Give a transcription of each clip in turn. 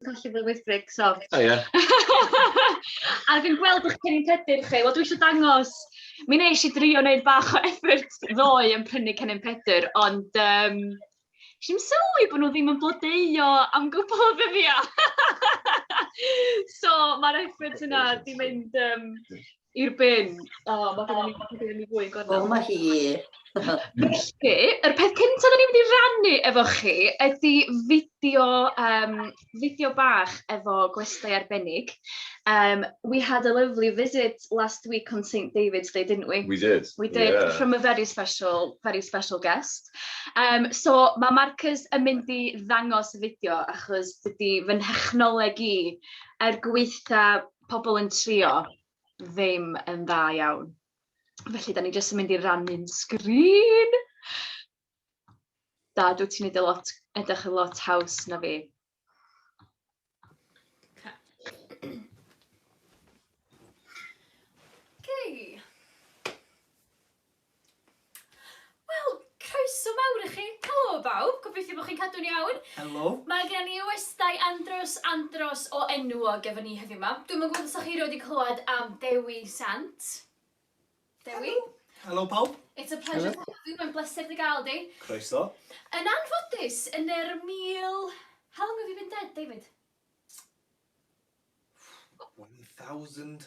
Colli fy wyddbrig, sori. O ie. A fi'n gweld eich cennin pedyr chi. Wel, dwi eisiau dangos, mi nes i drio wneud bach o effort ddoe yn prynu cennin pedyr, ond um, si'n sylwi bod nhw ddim yn blodeio am gwbl o ddyddiau. so, mae'r effort yna di mynd um, I'r bin. O, oh, mae gen i oh. mae gen i fwy gorau. O, mae hi. Felly, yr peth cyntaf da ni'n mynd i rannu efo chi ydy fideo, um, fideo bach efo gwestai arbennig. Um, we had a lovely visit last week on St David's Day, didn't we? We did. We did, yeah. from a very special, very special guest. Um, so, mae Marcus yn mynd i ddangos y fideo achos dydy fy nhechnoleg i er gweitha pobl yn trio ddim yn dda iawn. Felly, da ni jyst yn mynd i rannu'n sgrin. Da, dwi ti'n edrych lot, edrych yn lot haws na fi. Okay. Wel, croeso mawr i chi. Helo bawb, gobeithio bod chi'n cadw'n iawn. Helo. Mae gen i westai andros, andros o enwog efo ni heddiw ma. Dwi'm yn gwybod os da chi wedi clywed am Dewi Sant. Dewi? Helo. Helo pawb. It's a pleasure to have you, mae'n bleser dy gael di. Croeso. Yn anffodus, yn yr mil... How long have you been dead, David? 1,000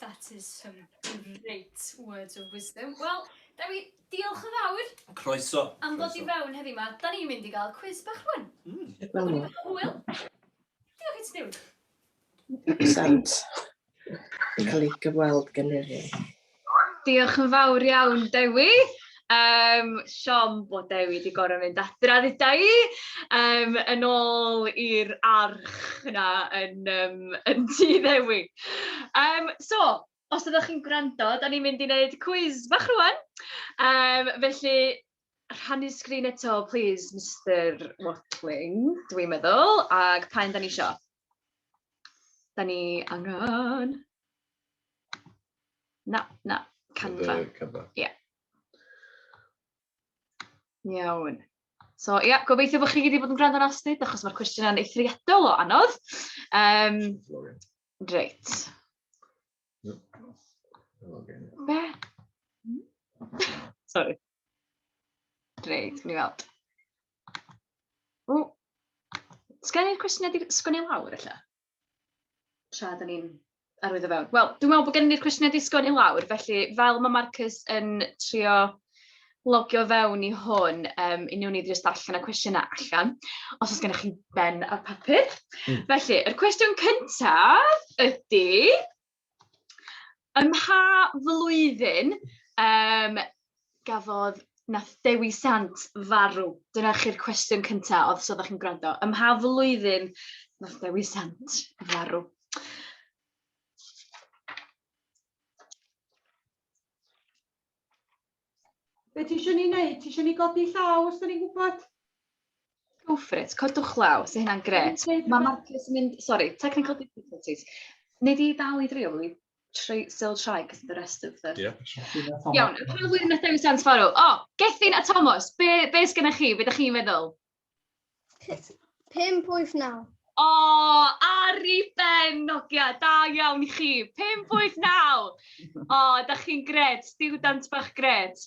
That is some great words of wisdom. Wel, Dewi, diolch yn fawr. Croeso. Am ddod i fewn heddi ma. Da ni'n mynd i gael cwiz bach rwan. Mm. Wel. Hwyl. Diolch i ti, Dewi. Excellent. Cael ei gyfweld gen i. Diolch yn fawr iawn, Dewi. Yym, siom bod Dewi 'di gorfod mynd adra ddeuda i! Yym, yn ôl i'r arch 'na yn yym yn tŷ Ddewi. Yym, so, os ydych chi'n gwrando, dan ni'n mynd i wneud cwis bach rŵan, yym felly rhannu sgrin eto plis Mister Watling dwi'n meddwl, ac pa un dan ni isio? Da ni angen... Na, na, Canva. Canva. Ie. Yeah. Iawn. So ie, yeah, gobeithio bod chi wedi bod yn gwrando yn astud, achos mae'r cwestiynau'n eithriadol o anodd. Um, reit. Be? Sorry. Reit, ni weld. O, sgen i'r cwestiynau di sgwn i lawr, ella? Tra, da ni'n arwyddo fewn. Wel, dwi'n meddwl bod gen i'r cwestiynau di sgwn i lawr, felly fel mae Marcus yn trio logio fewn i hwn, um, i niwn ni ddrist allan y cwestiynau allan, os oes gennych chi ben a papur. Mm. Felly, yr cwestiwn cyntaf ydy, Ym mha flwyddyn yym gafodd... wnaeth Dewi Sant farw? Dyna chi'r cwestiwn cynta, os oeddech chi'n gwrando. Ym mha flwyddyn wnaeth Dewi Sant farw? Be ti eisiau ni wneud? Ti eisiau ni godi llaw os da ni'n gwybod? Go for it, codwch llaw, sy'n hynna'n gret. Mae Marcus yn mynd, sorry, technical difficulties. Neu di dal i drio, we try, still try, cos the rest of the... Yeah, sure. Iawn, pa flwyddyn nath dewis Sans Farrow? O, oh, Gethin a Thomas, be, be sgynna chi? Be da chi'n meddwl? P- Pump, wyth, naw. O, ar i ben, Nogia, da iawn i chi. 589! O, da chi'n gred, stiwdant bach gred.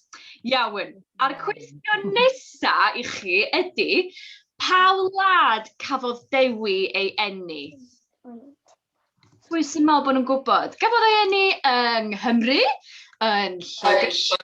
Iawn. A'r cwestiwn nesa i chi ydy, pa wlad cafodd Dewi ei enni? Pwy sy'n meddwl bod nhw'n gwybod? Gafodd ei enni yng Nghymru, yn Lloegr,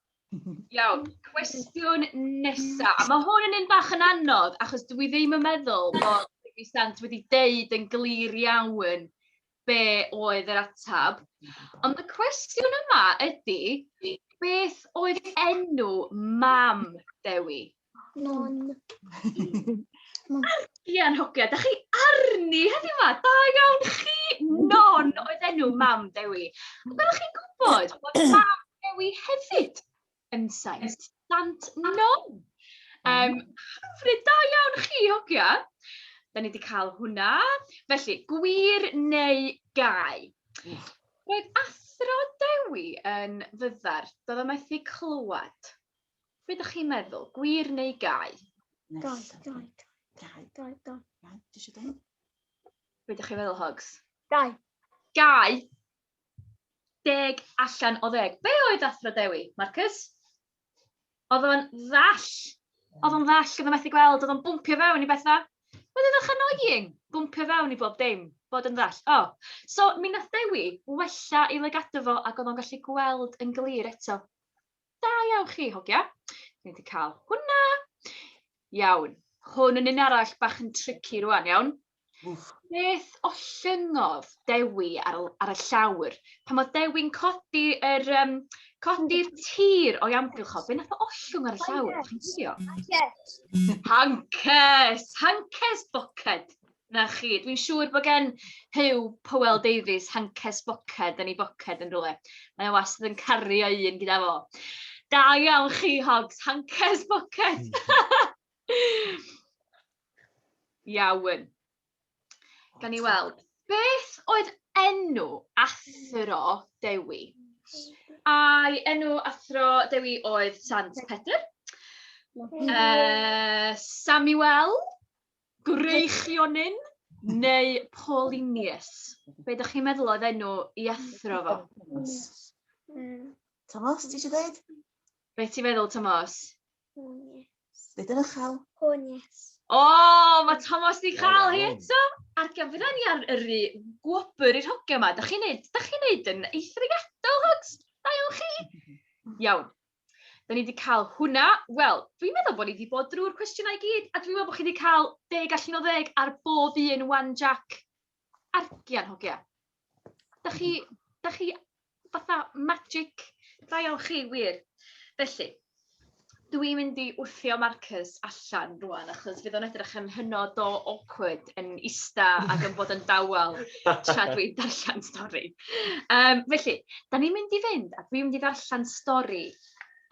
Iawn, cwestiwn nesa. A mae hwn yn un bach yn anodd, achos dwi ddim yn meddwl bod Dewi Sant wedi deud yn glir iawn be oedd yr atab. Ond y cwestiwn yma ydy, beth oedd enw mam Dewi? Mon. Mon. Argian hogia, da chi arni heddi yma, da iawn chi, non oedd enw mam Dewi. Ac oeddech chi'n gwybod bod mam Dewi hefyd yn saith, sant non. Um, hyfryd, da iawn chi hogia. Da ni wedi cael hwnna. Felly, gwir neu gau. Roedd athro Dewi yn fyddar, doedd o methu clywed. Be dych chi'n meddwl? Gwir neu gau? Gau, gau, gau, gau, gau. Iawn, ti eisiau dweud? Be dych chi'n meddwl, Hogs? Gau. Gau? Deg allan o ddeg. Be oedd athro Dewi, Marcus? Oedd o'n ddall. Oedd o'n ddall, oedd o'n methu gweld, oedd o'n bwmpio fewn i bethau. Oedd o'n annoying, bwmpio fewn i bob dim, bod yn ddall. O, oh. so mi nath Dewi wella i lygadu fo ac oedd o'n gallu gweld yn glir eto. Da iawn chi, hogia. Dwi wedi cael hwnna. Iawn. Hwn yn un arall bach yn tricky rwan, iawn. Wff. Beth o llyngodd Dewi ar, ar y llawr? Pan mae Dewi'n codi yr, um, codi'r tir o'i amgylch o, be nath o ollwng ar y llawr? Chi'n gwybod? Hankes! Hankes! Hankes bucket! 'Na chi. Dwi'n siŵr bod gen Huw Powell Davies hanced boced yn ei boced yn rhywle. Mae o wastad yn cario un gyda fo. Da iawn chi, Hogs, hanced boced! Iawn. Gan i weld. Beth oedd enw athro Dewi? Ai enw athro Dewi oedd Sant Pedr? Yy Samuel? Gwreichionyn neu Paulinius? Be dach chi'n meddwl oedd enw i athro fo? Tomos, ti eisiau dweud? Be ti'n meddwl, Tomos? Dweud yn uchel. Honies. O, mae Tomos di cael hi eto! Ar gyfer ni ar yr gwobr i'r hogiau yma, da chi'n neud, da chi'n neud yn eithriadol, hogs? Da iawn chi? Iawn. 'Da ni 'di ca'l hwnna. Wel, dwi'n meddwl bo' ni 'di bod drw'r cwestiynau i gyd, a dwi'n meddwl bo' chi 'di ca'l deg allan o ddeg ar bob un ŵan Jac a Rhian hogia. 'Dach chi 'dach chi fatha magic da iawn chi wir. Felly, dwi mynd i wthio marcers allan rŵan achos fydd o'n edrych yn hynod o awkward yn ista ac yn bod yn dawel tra dwi'n darllen stori. Yym felly, dan ni'n mynd i fynd a dwi'n mynd i ddarllen stori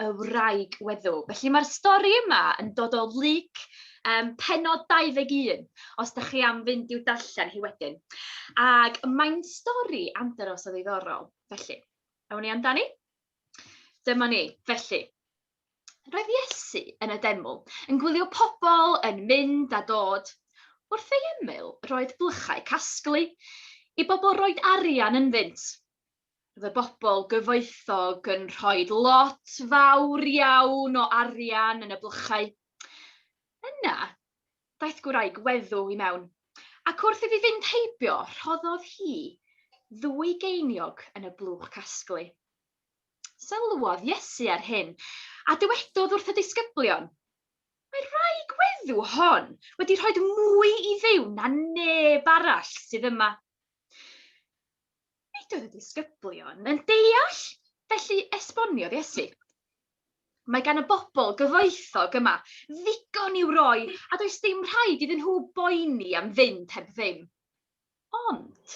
y wraig weddw. Felly mae'r stori yma yn dod o Luc um, penod 21, os da chi am fynd i'w darllen hi wedyn. Ac mae'n stori amdanos o ddiddorol. Felly, awn ni amdani? Dyma ni. Felly, Roedd Iesu yn y deml, yn gwylio pobl yn mynd a dod. Wrth ei ymyl, roedd blychau casglu i bobl roed arian ynddynt. Roedd y bobl gyfoethog yn rhoi lot fawr iawn o arian yn y blychau. Yna, daeth gwraig weddw i mewn, ac wrth iddi fynd heibio, rhoddodd hi ddwy geiniog yn y blwch casglu. Sylwodd Iesu ar hyn, a dywedodd wrth y disgyblion, Mae'r rhai gweddu hon wedi rhoi mwy i Dduw na neb arall sydd yma. Nid oedd y disgyblion yn deall, felly esboniodd Iesu. Mae gan y bobl gyfoethog yma ddigon i'w roi a does dim rhaid iddyn nhw boeni am fynd heb ddim. Ond,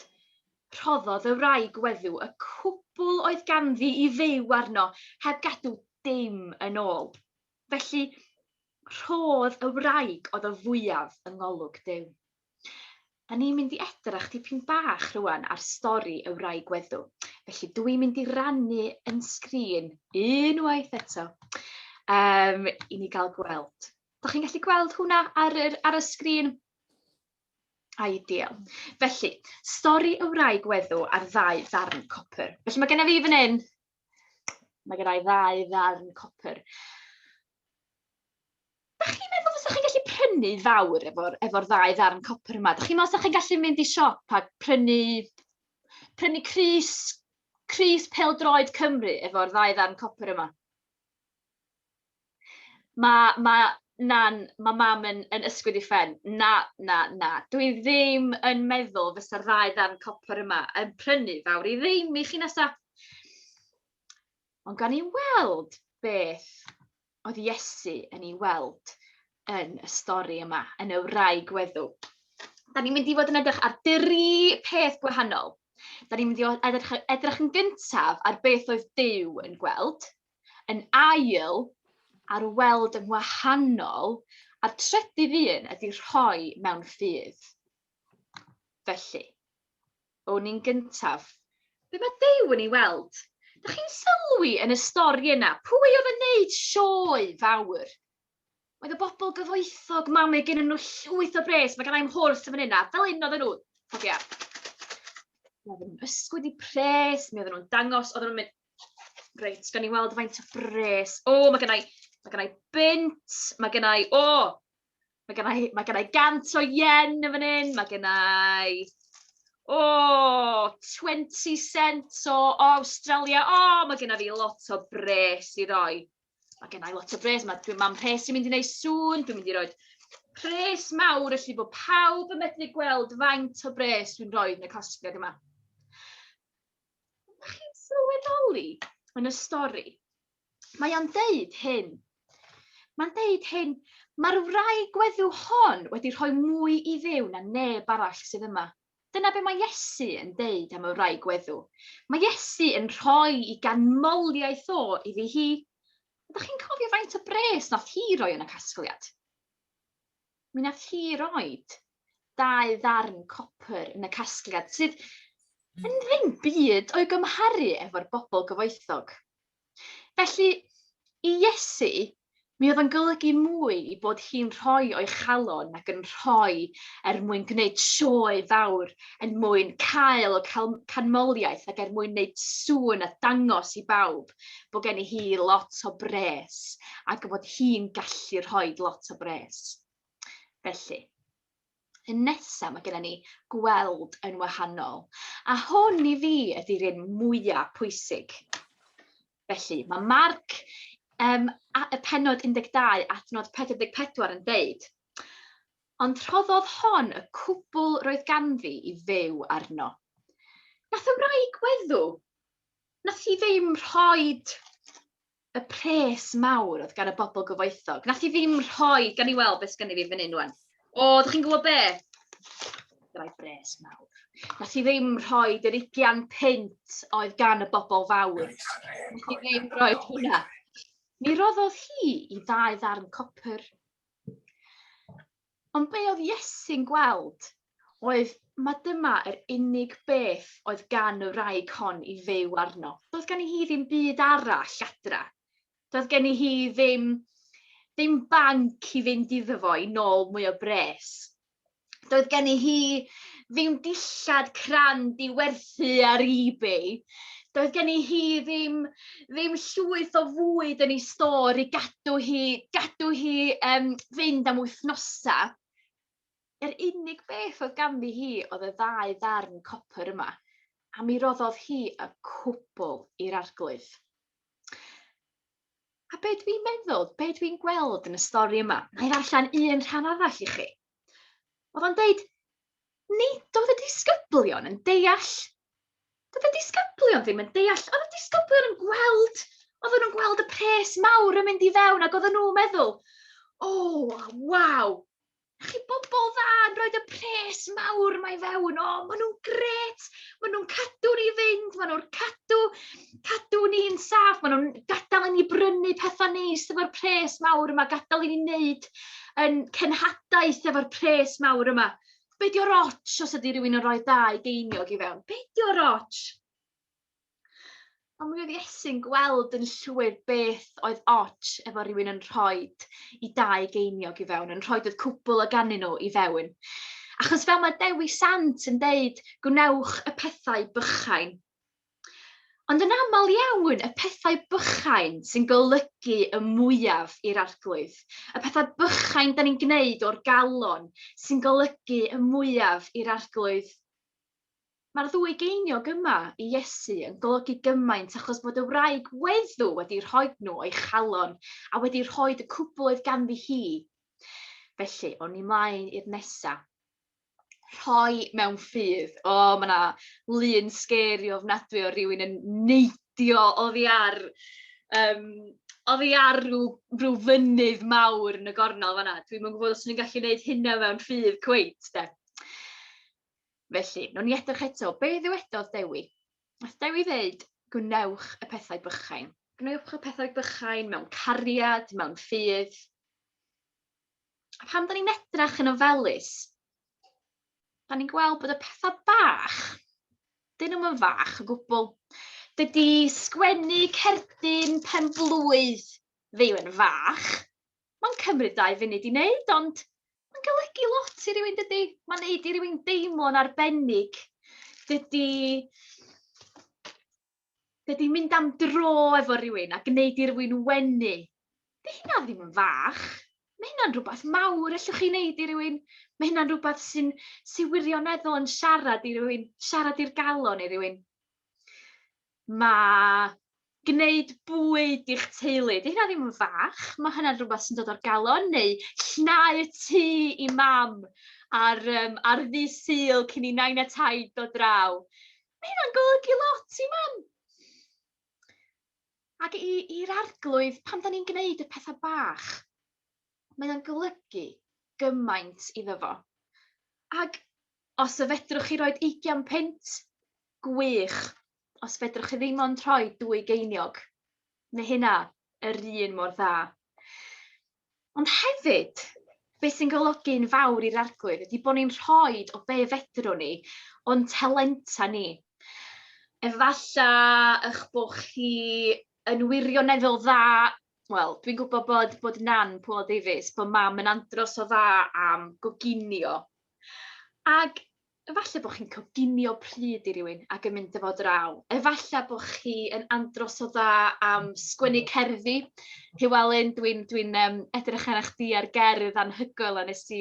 rhoddodd y wraig weddw y cwbl oedd ganddi i fyw arno heb gadw dim yn ôl. Felly, rhodd y wraig oedd y fwyaf yng ngolwg Duw. Da ni'n mynd i edrach dipyn bach rwan ar stori y wraig weddw. Felly, dw i'n mynd i rannu yn sgrin unwaith eto um, i ni gael gweld. Da chi'n gallu gweld hwnna ar, ar y sgrin? Ideal. Felly, stori y wraig weddw ar ddau ddarn copr. Felly mae genna fi fan hyn, mae genna i ddau ddarn copr. Da chi'n meddwl fysa chi'n gallu prynu fawr efo'r efo ddau ddarn copr yma? Da chi'n meddwl fysa chi'n gallu mynd i siop a prynu, prynu Cris, Cris Peldroed Cymru efo'r ddau ddarn copr yma? Ma' ma' na'n... ma' mam yn yn ysgwyd ei phen. "Na, na, na, dwi ddim yn meddwl fysa'r ddau ddarn copr yma yn prynu fawr i ddim i chi nesa'." Ond gawn ni weld beth oedd Iesu yn ei weld yn y stori yma, yn y wraig weddw. Dan ni'n mynd i fod yn edrych ar dri peth gwahanol. Dan ni'n mynd i o- edrych edrych yn gyntaf ar beth oedd Duw yn gweld. yn ail ar weld yn wahanol, a'r trydydd un ydy rhoi mewn ffydd. Felly, o'n i'n gyntaf. Be mae Dew yn ei weld? Dych chi'n sylwi yn y stori yna, pwy oedd yn neud sioe fawr? Oedd y bobl gyfoethog, mam ei gen nhw llwyth o bres, mae gen i'm horse yn fan yna, fel un oedd nhw, cofia. Oedden nhw'n ysgwyd i pres, mi oedden nhw'n dangos, oedden nhw'n mynd, Reit, gawn ni weld faint o bres. O, oh, mae gennau, mae gennau bint, mae gennau, o, oh, mae gennau, mae gennau gant o yen yn fan hyn, mae gennau, o, oh, 20 cent o, o Australia, o, oh, mae gennau fi lot o bres i roi. Mae gennau lot o bres, mae dwi'n mam rhes i'n mynd i wneud sŵn, dwi'n mynd i roi pres mawr, felly bod pawb yn medru gweld faint o bres dwi'n rhoi yn y costgeg yma. Ydych chi'n sylweddoli yn y stori? Mae o'n deud hyn. Mae'n deud hyn, mae'r wraig gweddiw hon wedi rhoi mwy i ddew na neb arall sydd yma. Dyna be mae Iesu yn deud am y wraig gweddiw. Mae Iesu yn rhoi i ganmoliaeth o iddi hi. Ydych chi'n cofio faint o bres nath hi roi yn y casgliad? Mi wnaeth hi roed dau ddarn copr yn y casgliad, sydd yn hmm. ddim byd o'i gymharu efo'r bobl gyfoethog. Felly, i Iesu, mi oedd yn golygu mwy i bod hi'n rhoi o'i chalon ac yn rhoi er mwyn gwneud sioe fawr, er mwyn cael o canmoliaeth ac er mwyn wneud sŵn a dangos i bawb bod genni hi lot o bres ac bod hi'n gallu rhoi lot o bres. Felly, y nesaf mae gennym ni gweld yn wahanol. A hwn i fi ydy'r un mwyaf pwysig. Felly, mae Marc um, y penod 12 adnod 44 yn deud, Ond rhoddodd hon y cwbl roedd ganddi i fyw arno. Nath y wraig weddw, nath hi ddim rhoid y pres mawr oedd gan y bobl gyfoethog. Nath hi ddim rhoi, gan i weld beth sgan i fi fan hyn wan. O, ddech chi'n gwybod be? Gyda'i bres mawr. Nath hi ddim rhoi yr 25 pint oedd gan y bobl fawr. Nath hi ddim rhoi hwnna. Mi roddodd hi i ddau ddarn copr. Ond be oedd Iesu'n gweld oedd mae dyma yr unig beth oedd gan y wraig hon i fyw arno. Doedd gen i hi ddim byd arall adra. Doedd gen i hi ddim, ddim banc i fynd iddo fo i nôl mwy o bres. Doedd gen i hi ddim dillad crand i werthu ar eBay. Doedd gen i hi ddim ddim llwyth o fwyd yn ei stor i gadw hi, gadw hi um, fynd am wythnosau. Yr unig beth oedd ganddi hi oedd y ddau ddarn copr yma, a mi roddodd hi y cwbl i'r arglwydd. A be dwi'n meddwl, be dwi'n gweld yn y stori yma, na i ddarllen un rhan arall i chi. Oedd o'n deud, nid oedd y disgyblion yn deall. Doedd y disgyblion ddim yn deall. Oedd y disgyblion yn gweld, oedd nhw'n gweld y pres mawr yn mynd i fewn ac oedden nhw'n meddwl, o, oh, waw, chi bobl dda yn rhoi y pres mawr mae fewn, o, maen nhw'n gret, maen nhw'n cadw ni fynd, maen nhw'n cadw cadw ni'n saff, maen nhw'n gadael i ni brynu pethau neis efo'r pres mawr yma, gadael i ni wneud yn cenhadaeth efo'r pres mawr yma. Be di o'r ots os ydy rhywun yn rhoi dau geiniog i fewn? Be di o'r ots? Ond mi oedd Iesu'n gweld yn llwyr beth oedd ots efo rhywun yn rhoi i dau geiniog i fewn, yn rhoi oedd cwbl o gannu nhw i fewn. Achos fel mae Dewi Sant yn deud, gwnewch y pethau bychain. Ond yn aml iawn, y pethau bychain sy'n golygu y mwyaf i'r Arglwydd, y pethau bychain da ni'n gwneud o'r galon sy'n golygu y mwyaf i'r Arglwydd. Mae'r ddwy geiniog yma i Iesu yn golygu gymaint achos bod y wraig weddw wedi rhoi nhw o'i chalon a wedi rhoi y cwbl oedd ganddi hi. Felly, o'n i mlaen i'r nesa. rhoi mewn ffydd. O, ma' 'na lun scary ofnadwy o rywun yn neidio oddi ar yym oddi ar ryw ryw fynydd mawr yn y gornel fan'na. Dwi'm yn gwbod os o'n i'n gallu neud hynna mewn ffydd cweit 'de. Felly, newn ni edrych eto, be' ddywedodd Dewi? Nath Dewi ddeud, gwnewch y pethau bychain. Gwnewch y pethau bychain mewn cariad, mewn ffydd. A pan da ni'n edrach yn ofelus, da ni'n gweld bod y pethau bach, dyn nhw'n fach o gwbl. Dydy sgwennu cerdyn pen blwydd ddim yn fach. Mae'n cymryd dau funud i wneud, ond mae'n golygu lot i rywun dydy. Mae'n neud i rywun deimlo'n arbennig. Dydy Dydy mynd am dro efo rhywun a gwneud i rywun wenu, di hynna ddim yn fach. Mae hynna'n rhywbeth mawr allwch chi wneud i rywun. Mae hynna'n rhywbeth sy'n sy wirioneddol yn siarad i rywun, siarad i'r galon i rywun. Mae gwneud bwyd i'ch teulu, di hynna ddim yn fach. Mae hynna'n rhywbeth sy'n dod o'r galon, neu llnau y tŷ i mam ar, um, ar ddi syl cyn i nain a taid dod draw. Mae hynna'n golygu lot i mam! Ac i'r arglwydd, pan da ni'n gwneud y pethau bach, mae o'n golygu gymaint iddo fo. Ac os y fedrwch chi roed 20 punt, gwych. Os fedrwch chi ddim ond rhoi dwy geiniog, mae hynna yr un mor dda. Ond hefyd, beth sy'n golygu'n fawr i'r Arglwydd ydy bod ni'n rhoi o be fedrwn ni o'n talenta ni. Efallai eich bod chi yn wirioneddol dda wel, dwi'n gwybod bod, bod nan Paul Davies, bod mam yn andros o dda am goginio. Ac Efallai bod chi'n coginio pryd i rywun ac yn mynd â fo draw. Efallai bod chi yn andros o dda am sgwennu cerddi. Llewelyn, dwi'n dwi um, edrych arna chdi ar gerdd anhygoel a nes i,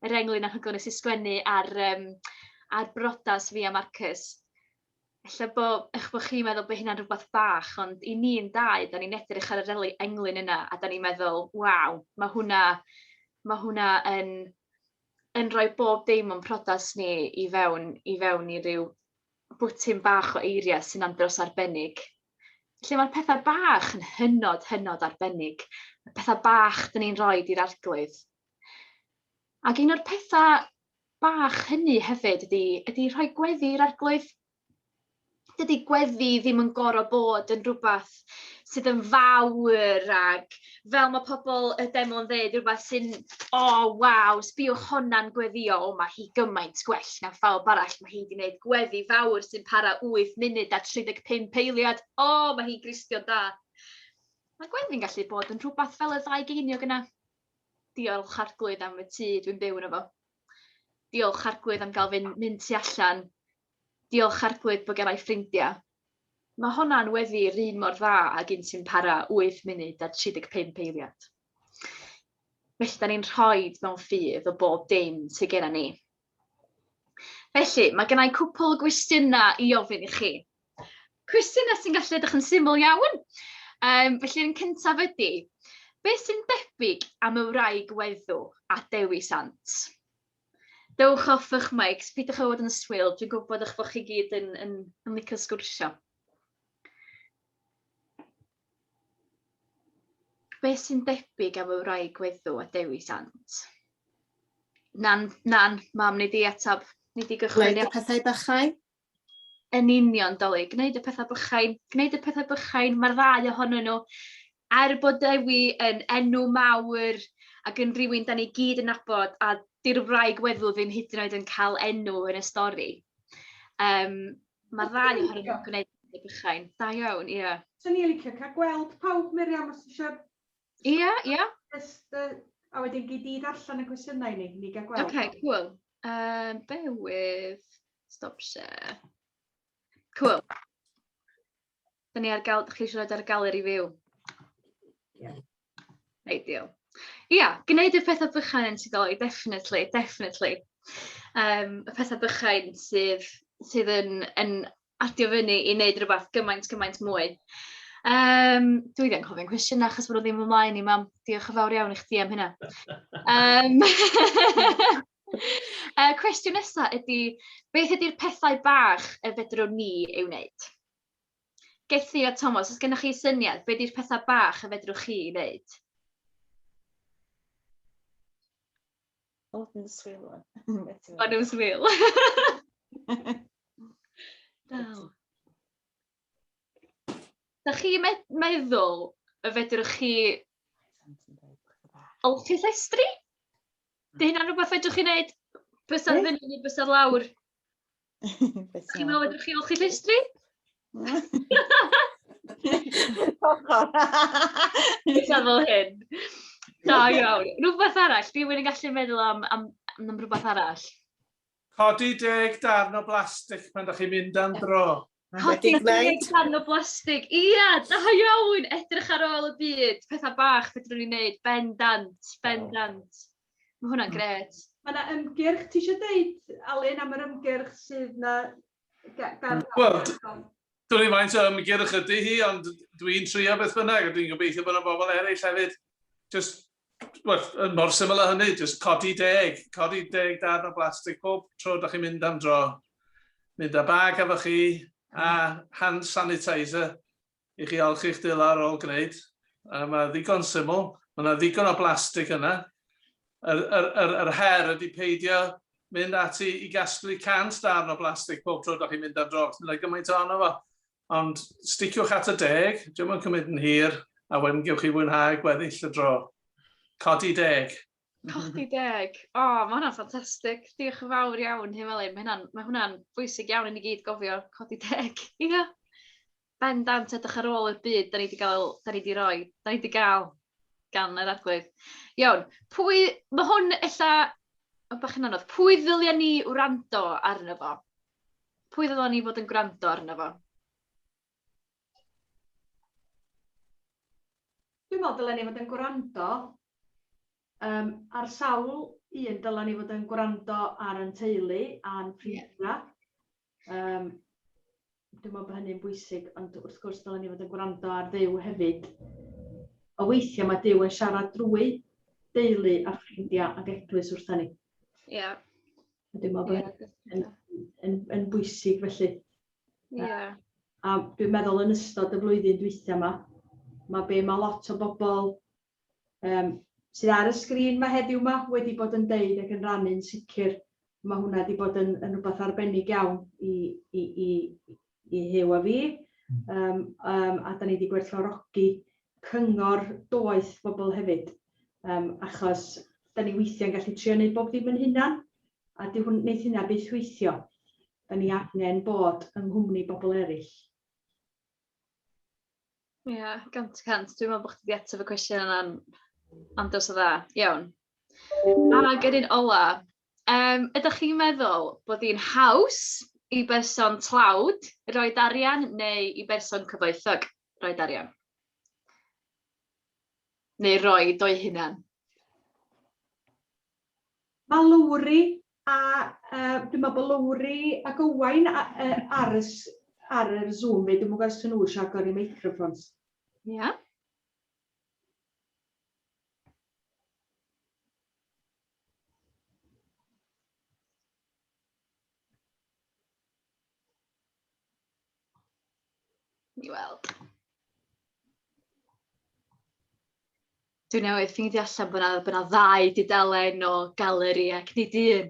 yr englyn anhygoel nes i sgwennu ar, um, ar brodas fi a Marcus. Efallai bod, eich bod chi'n meddwl bod hynna'n rhywbeth bach, ond i ni'n dau, da ni'n edrych ar yr englyn yna a da ni'n meddwl, waw, mae hwnna, mae hwnna yn yn rhoi bob dim o'n priodas ni i fewn i fewn i ryw bwthyn bach o eiriau sy'n andros o arbennig, lle mae'r petha bach yn hynod, hynod arbennig, y petha bach 'dyn ni'n rhoi i'r Arglwydd. Ac un o'r petha bach hynny hefyd ydy ydy rhoi gweddi i'r Arglwydd. dydy gweddi ddim yn gorfod bod yn rhywbeth sydd yn fawr ac fel mae pobl y demo'n dweud, rhywbeth sy'n, o, oh, waw, sbiwch honna'n gweddio, o, mae hi gymaint gwell na phawb arall, mae hi wedi gwneud gweddi fawr sy'n para 8 munud a 35 eiliad, o, oh, mae hi'n gristio'n da. Mae gweddi'n gallu bod yn rhywbeth fel y ddau geiniog yna. Diolch arglwydd am y tŷ dwi'n byw yn efo. Diolch arglwydd am gael fy mynd tu allan Diolch Harglwydd bo gerai ffrindia. Mae honna'n weddi run mor dda ag un sy'n para 8 munud a 35 eiliad. Felly da ni'n rhoid mewn ffydd o bob dim sy genna ni. Felly, mae gennau cwpl o gwestiynau i ofyn i chi. Cwestiynau sy'n gallu edrych yn syml iawn. Um, felly, yn cyntaf ydy, beth sy'n debyg am y wraig weddw a Dewi Sant? Dewch off ych mics, peidiwch â bod yn swil, dwi'n gwybod eich bod chi gyd yn, yn, yn licio sgwrsio. Be sy'n debyg am y rai gweddu a Dewi Sant? Nan, nan, mam, nid i atab, nid i gychwyn. Gwneud y pethau bychau? Yn union, Dolig. Gwneud y pethau bychain. Gwneud y pethau bychain. Mae'r ddau ohonyn nhw. Er bod Dewi yn enw mawr ac yn rhywun da ni gyd yn nabod, a di'r wraig weddw ddim hyd yn oed yn cael enw yn y stori. Um, Mae'r ddau ohonyn nhw'n gwneud y bychain. Da iawn, ie. Yeah. So ni'n licio cael gweld pawb, Miriam, os eisiau... Ie, ie. Just, uh, a wedyn gyd i ddarllen y cwestiynau ni, ni gael gweld. OK, cool. Yy, bear with, stop share. Cŵl. Da ni ar gael, da chi eisiau rhoi ar gael i fyw? Ie. Ideal. Ia, gwneud y pethau bychain yn sudoli, definitely, definitely. Um, y pethau bychain sydd, sydd yn, yn adio fyny i wneud rhywbeth gymaint, gymaint mwy. Um, dwi ddim yn cofio'n cwestiwn achos bod nhw ddim ymlaen i mam. Diolch yn fawr iawn i chdi am hynna. Um, uh, cwestiwn nesaf ydy, beth ydy'r pethau bach y fedrwn ni ei wneud? Gethi a Thomas, os gennych chi syniad, beth ydy'r pethau bach y fedrwch chi ei wneud? O dwi'n dy swil ŵan. Maen nhw'n swil. Dal. Da chi meddwl y fedrwch chi olchi llestri? Dy hynna'n rhywbeth fedrwch chi wneud bysedd fyny neu bysedd lawr? Ti'n meddwl ydych chi olchi llestri? Eitha fel hyn. Da iawn. Rhywbeth arall, di wyn yn gallu meddwl am, am, am rhywbeth arall. Codi deg darn o blastig pan da chi'n mynd am dro. Codi a gwneud darn o blastig. Ia, da iawn! Edrych ar ôl y byd. Pethau bach fedrwn ni wneud. Bendant, bendant. Mae hwnna'n gret. Mae yna ymgyrch, ti eisiau dweud, Alun, am yr ymgyrch sydd yna gan... Wel, dwi'n ei faint o ymgyrch ydy hi, ond dwi'n trio beth bynnag, a dwi'n gobeithio bod yna bobl eraill hefyd. Just Wel, mor syml â hynny, jyst codi deg, codi deg darn o blastig pob tro da chi'n mynd am dro. Mynd â bag efo chi a hand sanitizer i chi olchi'ch dila ar ôl gwneud. A mae ddigon syml, mae yna ddigon o blastig yna. Yr, yr, yr, yr her ydy peidio mynd ati i gasglu cant darn o blastig pob tro da chi'n mynd am dro, achos mae yna gymaint ohono fo. Ond sticiwch at y deg, diom yn cymryd yn hir, a wedyn gewch chi fwynhau gweddill y dro. Codi deg! Codi deg! O, oh, mae hwnna'n ffantastig. Diolch yn fawr iawn, Huw Elin. Mae hwnna'n mae hwnna bwysig iawn i ni gyd gofio codi deg. Ie. Yeah. Ben dant edrych ar ôl i'r byd, da ni wedi cael, da ni wedi roi, da ni wedi cael gan yr arglwydd. Iawn, pwy, mae hwn ella, o bach yn anodd, pwy ddylia ni wrando arno fo? Pwy ddylwn ni fod yn gwrando arno fo? Dwi'n meddwl dylen ni fod yn gwrando um, ar sawl un dylen ni fod yn gwrando ar yn teulu a'n ffrindiau. Um, dwi'n meddwl bod hynny'n bwysig, ond wrth gwrs dylen ni fod yn gwrando ar ddew hefyd. O weithiau mae dew yn siarad drwy deulu a ffrindiau ac eglwys wrthyn ni. Ie. Yeah. Dwi'n meddwl bod hynny yn, yn, bwysig felly. Yeah. A, a dwi'n meddwl yn ystod y flwyddyn dwytha yma, mae be mae lot o bobl um, sydd ar y sgrin mae heddiw yma wedi bod yn deud ac yn rannu'n sicr, mae hwnna wedi bod yn, yn rhywbeth arbennig iawn i, i, i, i Huw a fi, yym yym a 'dan ni 'di gwerthfawrogi cyngor doeth pobl hefyd, yym achos 'dan ni weithiau'n gallu trio neud bob dim yn hunan, a dyw hwn... neith hynna byth weithio. 'Dan ni angen bod yng nghwmni bobl eraill. Ia, gant y cant. Dwi'n meddwl bod chdi 'di ateb y cwestiwn yna'n andros o dda. Iawn. Ac yr un ola, Yym, ydych chi'n meddwl bod hi'n haws i berson tlawd roed arian neu i berson cyfoethog roed arian? Neu roed o'u hunan? Mae Lowri a uh, dwi'n meddwl bod Lowri ac Owain ar, y, ar yr Zoom, dwi'n meddwl os nhw eisiau agor i microfons. Ie. Yeah. Ni weld. Dwi newydd ffeindio allan bod 'na bod 'na ddau dudalen o galeri ac nid un.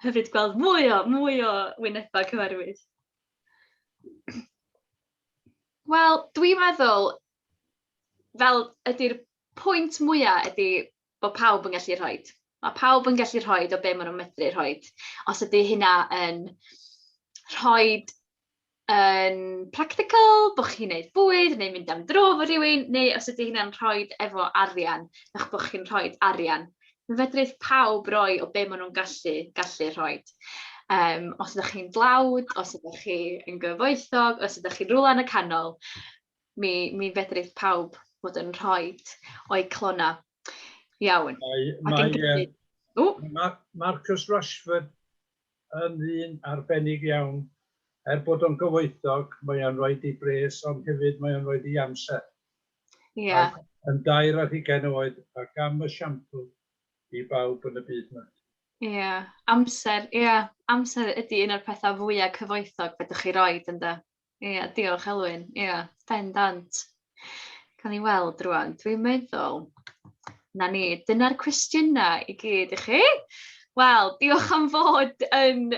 Hyfryd gweld mwy o mwy o wynebau cyfarwydd. Wel, dwi'n meddwl, fel ydy'r pwynt mwya' ydi bo' pawb yn gallu rhoid. Ma' pawb yn gallu rhoid o be' ma' nw'n medru rhoid. Os ydi hynna yn rhoid yn practical, bo' chi'n neud bwyd neu mynd am dro 'fo rywun, neu os ydi hynna'n rhoid efo arian, a'ch bo' chi'n rhoid arian. Fe fedrith pawb roi o be' ma' nw'n gallu gallu rhoid. Yym os ydach chi'n dlawd, os ydach chi yn gyfoethog, os ydach chi'n rwla yn y canol, Mi mi fedrith pawb fod yn rhoid o'u calonnau. Iawn. Mae mae yy... O! ...ma' Marcus Rashford yn ddyn arbennig iawn. Er bod o'n gyfoethog, mae o'n rhoid ei bres ond hefyd mae o'n rhoid ei amser. Ia. Ac yn dair ar hugain oed ac am esiampl i bawb yn y byd 'ma. Ia, amser, ia, amser ydi un o'r petha fwya cyfoethog fedrwch chi roid ynde? Ia, diolch Elwyn. Ia, bendant. Cawn ni weld rwan. Dwi'n meddwl, na ni, dyna'r cwestiynau i gyd i chi. Wel, diolch am fod yn...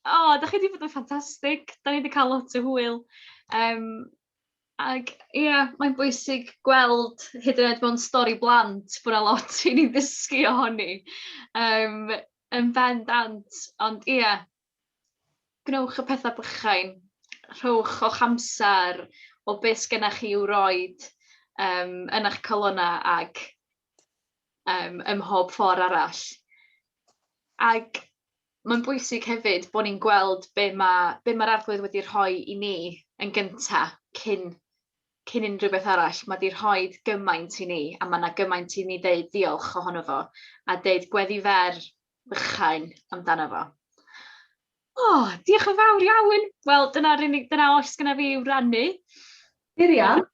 O, oh, da chi wedi bod yn ffantastig. Da ni wedi cael lot o hwyl. Um, ac ie, yeah, mae'n bwysig gweld hyd yn oed mewn stori blant bod yna lot i ni ddysgu ohoni. Um, yn bendant, ond ie, yeah, Gwnewch y petha bychain. Rhowch o'ch amser o be sgenna chi i'w roid yym yn eich calonnau ac yym ym mhob ffor' arall. Ac mae'n bwysig hefyd bod ni'n gweld be ma' be ma'r Arglwydd wedi rhoi i ni yn gynta cyn cyn unrhyw beth arall. Ma' 'di rhoid gymaint i ni, a ma' 'na gymaint i ni ddeud diolch ohono fo, a deud gweddi fer bychain amdano fo. O, oh, diolch yn fawr iawn. Wel, dyna'r unig, dyna oes gyda fi i'w rannu. Miriam?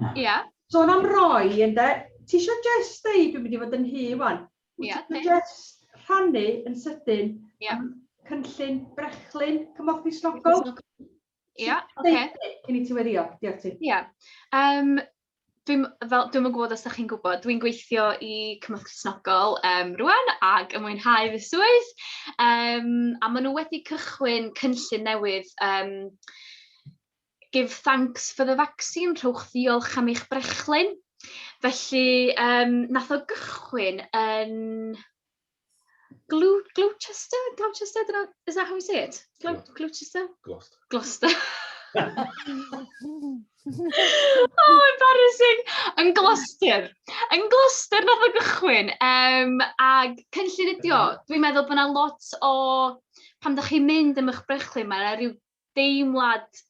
Ia. Yeah. Sôn am roi, ynddo, ti eisiau just dweud, dwi'n mynd i fod yn hy wan, yeah, ti just rhannu yn sydyn yeah. am cynllun brechlyn cymorth i snogol? Ia, oce. Cyn i ti weddio, diolch ti. Ia. Um, dwi'n fel dwi'm yn gwybod os ydych chi'n gwybod, dwi'n gweithio i Cymorth Cristnogol um, rwan ac yn mwynhau fy swydd. Um, a maen nhw wedi cychwyn cynllun newydd um, Give Thanks for the Vaccine, rhowch ddiolch am eich brechlyn. Felly, um, nath o gychwyn yn Glou- Gloucester? Gloucester? I don't know, is that how you say it? Glou- Gloucester. Gloucester? Gloucester. Gloucester. oh, embarrassing! Yn Gloucester. Yn Gloucester nath o gychwyn. Um, ag cynllun ydi o. Dwi'n meddwl bod yna lot o... Pan ydych chi'n mynd am eich brechlyn, mae yna rhyw deimlad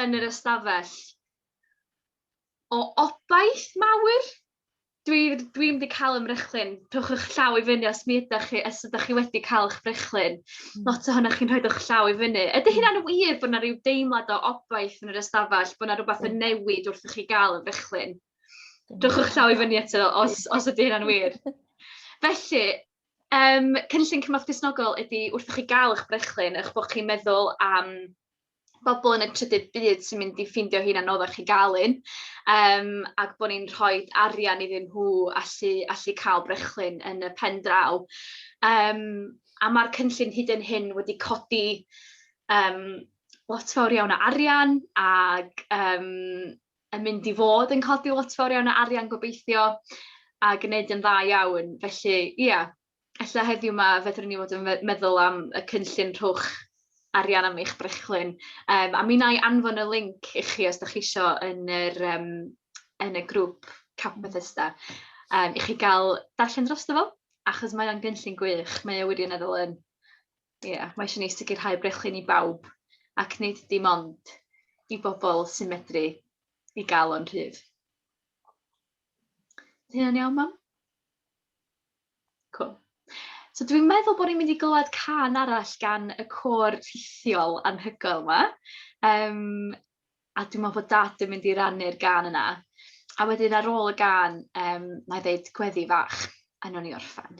yn yr ystafell o obaith mawr. Dwi dwi mynd i cael ymrechlyn. Rhowch eich llaw i fyny os mi ydych chi os ydych chi wedi cael eich brechlyn. Hmm. Lot ohonoch chi'n rhoi'ch llaw i fyny. Ydy hmm. hynna'n wir bod yna rhyw deimlad o obaith yn yr ystafell, bod yna rhywbeth yn newid wrth i chi gael y brechlyn? Rhowch eich llaw i fyny eto os, os ydy hynna'n wir. Felly, Yym, cynllun cymorth Cristnogol ydy wrth i chi gael eich brechlyn, eich bod chi'n meddwl am bobl yn y trydydd byd sy'n mynd i ffeindio hi'n anoddach i gael un, yym, ac bod ni'n rhoi arian iddyn nhw allu allu cael brechlyn yn y pen draw. Yym, a ma'r cynllun hyd yn hyn wedi codi yym lot fawr iawn o arian ac yym yn mynd i fod yn codi lot fawr iawn o arian gobeithio a gneud yn dda iawn felly ia ella heddiw 'ma fedrwn ni fod yn me- meddwl am y cynllun rhowch arian am eich brechlyn yym a mi wna i anfon y linc i chi os 'dach chi isio yn yr yym yn y grŵp Camp Bethesda yym i chi ga'l darllen drosto fo achos mae o'n gynllun gwych mae o wirioneddol yn. Ia, mae isio ni sicrhau brechlyn i bawb, ac nid dim ond i bobl sy'n medru i gael o'n rhydd. Ydy hynna'n iawn, mam? Cool. So dwi'n meddwl bod ni'n mynd i glywed can arall gan y côr rhithiol anhygoel yma. Um, a dwi'n meddwl bod dad yn mynd i rannu'r gan yna. A wedyn ar ôl y gan, um, mae ddeud gweddi fach, a nhw'n i orffan.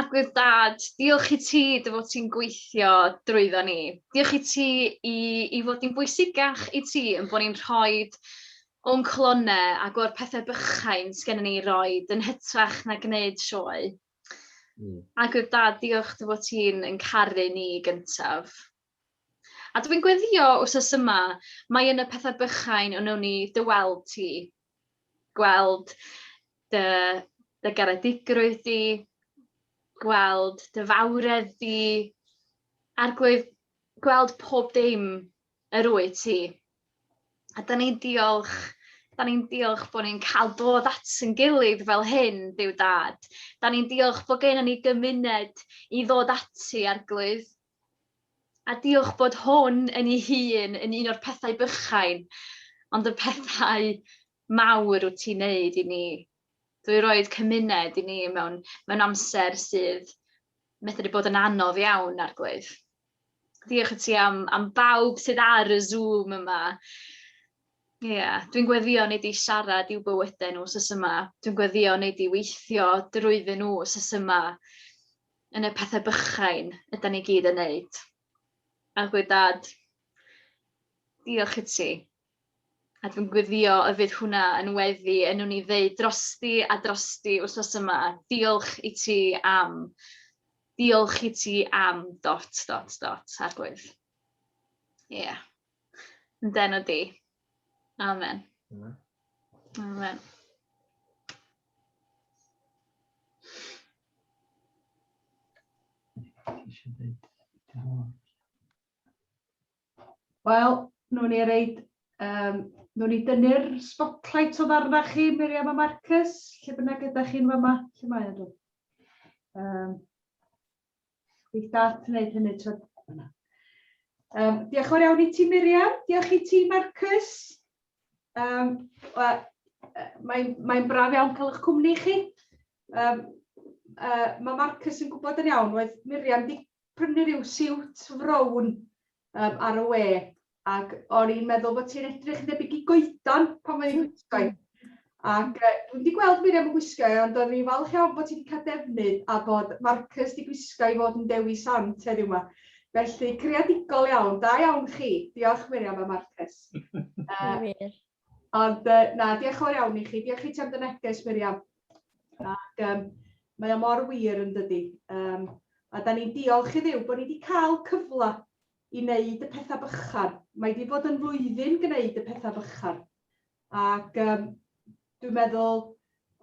Arglwydd Dad, diolch i ti dy fod ti'n gweithio drwyddo ni. Diolch i ti i, i fod yn bwysicach i ti yn bod ni'n rhoi o'n clonau ac o'r pethau bychain sgen ni roi yn hytrach na gwneud sioe. Mm. Arglwydd Dad, diolch dy fod ti'n yn caru ni gyntaf. A dwi'n gweddio wsos yma, mai yn y pethau bychain y wnawn ni dy weld ti. Gweld dy, dy garedigrwydd di, gweld dy fawredd di, a'r gwedd, gweld pob dim yr wyt ti. A da ni'n diolch, da ni'n diolch bod ni'n cael dod at yn gilydd fel hyn, Duw Dad. Da ni'n diolch bod gennym ni gymuned i ddod ati, Arglwydd, A diolch bod hwn yn ei hun yn un o'r pethau bychain, ond y pethau mawr wyt ti'n neud i ni. Dwi roed cymuned i ni mewn, mewn amser sydd methu bod yn anodd iawn, Arglwydd. Diolch i ti am, am bawb sydd ar y Zoom yma. Ie, yeah. dwi'n gweddio neu di siarad i'w bywydau nhw sus yma. Dwi'n gweddio neu di weithio drwyddyn nhw sus yma. yn y pethe bychain ydan ni gyd yn neud. A gwe dad, diolch i ti. A dwi'n gwyddio y fydd hwnna yn weddi yn nhw'n i ddeud drosti a drosti wrthos yma. Diolch i ti am. Diolch i ti am. Dot, dot, dot. Arglwydd. Ie. Yeah. Yn den o di. Amen. Amen. Amen. Wel, nhw'n ni reid, um, nhw'n ni dynnu'r spotlight o ddarna chi, Miriam a Marcus, lle bynnag ydych chi'n fama, lle mae nhw? Um, Bydd Garth yn gwneud hynny tro... Yna. Um, diolch yn fawr iawn i ti Miriam, diolch i ti Marcus. Um, well, Mae'n mae braf iawn cael eich cwmni chi. Um, uh, mae Marcus yn gwybod yn iawn, oedd Miriam wedi prynu rhyw siwt frown um, ar y we, ac o'n i'n meddwl bo' ti'n edrych debyg i goedan pan o'n i'n gwisgo 'i. Ac yy dwi'm 'di gweld Miriam yn gwisgo 'i ond o'n i'n falch iawn bo' ti 'di ca'l defnydd a bod Marcus 'di gwisgo 'i fod yn Dewi Sant heddiw 'ma. Felly creadigol iawn, da iawn chi. Diolch Miriam a Marcus. Yy. Wir. Ond yy na, dioch yn fawr iawn i chi. Dioch i ti am dy neges Miriam. Ac yym mae o mor wir yndydi? Yym a 'dan ni'n diolch i Dduw bo' ni 'di ca'l cyfla i wneud y pethau bychan. Mae wedi bod yn flwyddyn gwneud y pethau bychan. Ac um, dwi'n meddwl,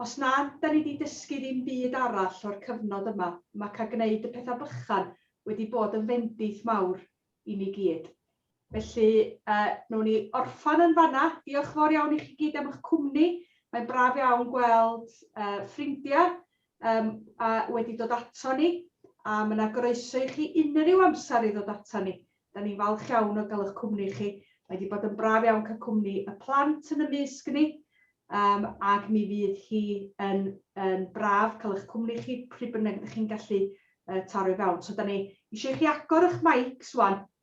os na, da ni wedi dysgu ddim byd arall o'r cyfnod yma. Mae cael gwneud y pethau bychan wedi bod yn fendith mawr i ni gyd. Felly, uh, nhw'n ni orffan yn fanna. Diolch fawr iawn i chi gyd am eich cwmni. Mae'n braf iawn gweld uh, ffrindiau Yym, a wedi dod ato ni, a ma' 'na groeso i chi unrhyw amser i ddod ato ni. 'Dan ni'n falch iawn o ga'l 'ych cwmni chi. Mae 'di bod yn braf iawn ca'l cwmni y plant yn ymysg ni, yym ac mi fydd hi yn yn braf ca'l 'ych cwmni chi pryd bynnag 'dych chi'n gallu yy taro i fewn. So 'dan ni isio i chi agor 'ych meics ŵan